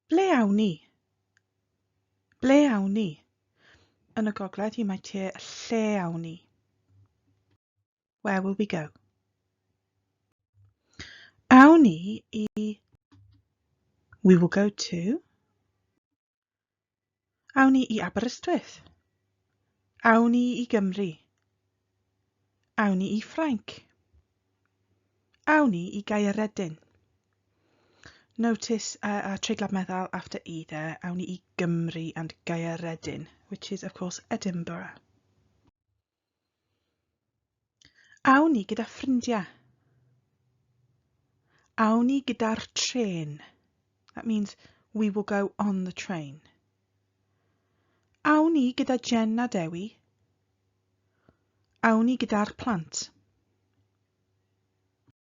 Ble awn ni? Ble awn ni? Yn y gogledd, you might hear lle awn ni. Where will we go? Awn ni i We will go to Awn ni i Aberystwyth. Awn ni i Gymru. Awn ni i Ffrainc. Awn ni i Gaeredin. Notice uh, a treiglad meddal after E there, awn ni i Gymru and Gaeredin, which is of course Edinburgh. Awn ni gyda ffrindiau. Awn ni gyda'r trên. That means we will go on the train. Awn ni gyda Jen a Dewi. Awn ni gyda'r plant.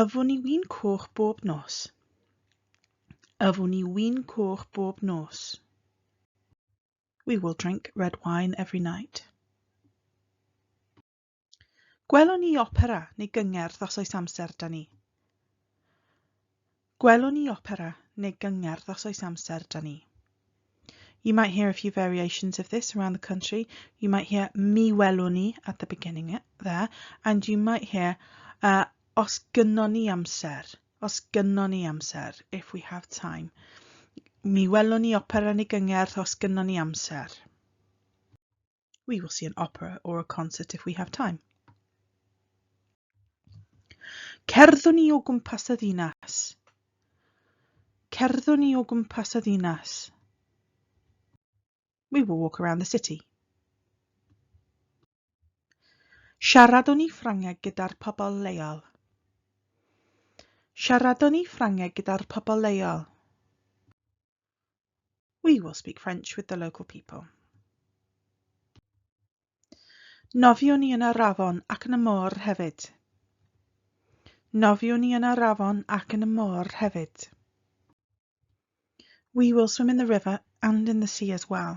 Yfwn i win coch bob nos. Yfwn i win coch bob nos. We will drink red wine every night. Gwelwn ni opera neu gyngerdd os oes amser da ni. Gwelwn ni opera neu gyngerdd os oes amser 'da ni. You might hear a few variations of this around the country. You might hear mi welwn ni at the beginning there and you might hear uh, os gynnon ni amser, os gynnon ni amser, if we have time. Mi welwn ni opera neu gyngerdd os gynnon ni amser. We will see an opera or a concert if we have time. Cerddwn ni o gwmpas y ddinas. Cerddwn ni o gwmpas y ddinas. We will walk around the city. Siaradwn ni Ffrangeg gyda'r pobl leol. Siaradwn ni Ffrangeg gyda'r pobl leol. We will speak French with the local people. Nofiwn ni yn yr afon ac yn y môr hefyd. Nofiwn ni yn yr afon ac yn y môr hefyd. We will swim in the river and in the sea as well.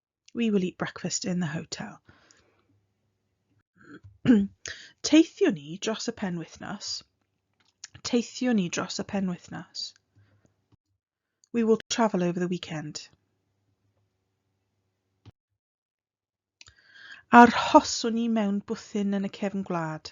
We will eat breakfast in the hotel. Teithio ni dros y penwythnos. Teithio ni dros y penwythnos. We will travel over the weekend. Arhoswn ni mewn bwthyn yn y cefn gwlad.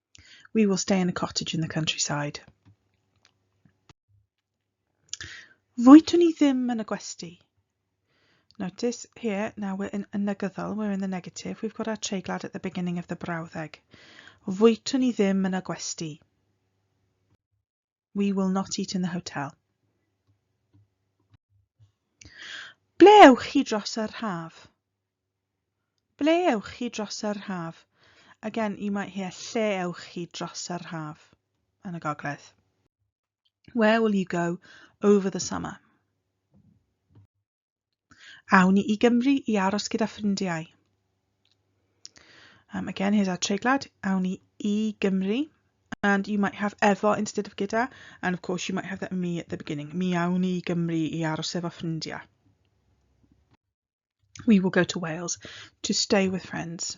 We will stay in a cottage in the countryside. Fwytwn ni ddim yn y gwesti. Notice here, now we're in a negyddol, we're in the negative, we've got our treiglad at the beginning of the brawddeg. Fwytwn ni ddim yn y gwesti. We will not eat in the hotel. Ble ewch chi dros yr haf? Ble ewch chi dros yr haf? Again, you might hear lle ewch chi dros yr haf yn y gogledd. Where will you go over the summer? Awn ni i Gymru i aros gyda ffrindiau. Um, again, here's our treiglad. Awn ni i Gymru. And you might have efo instead of gyda. And of course, you might have that me at the beginning. Mi awn ni i Gymru i aros efo ffrindiau. We will go to Wales to stay with friends.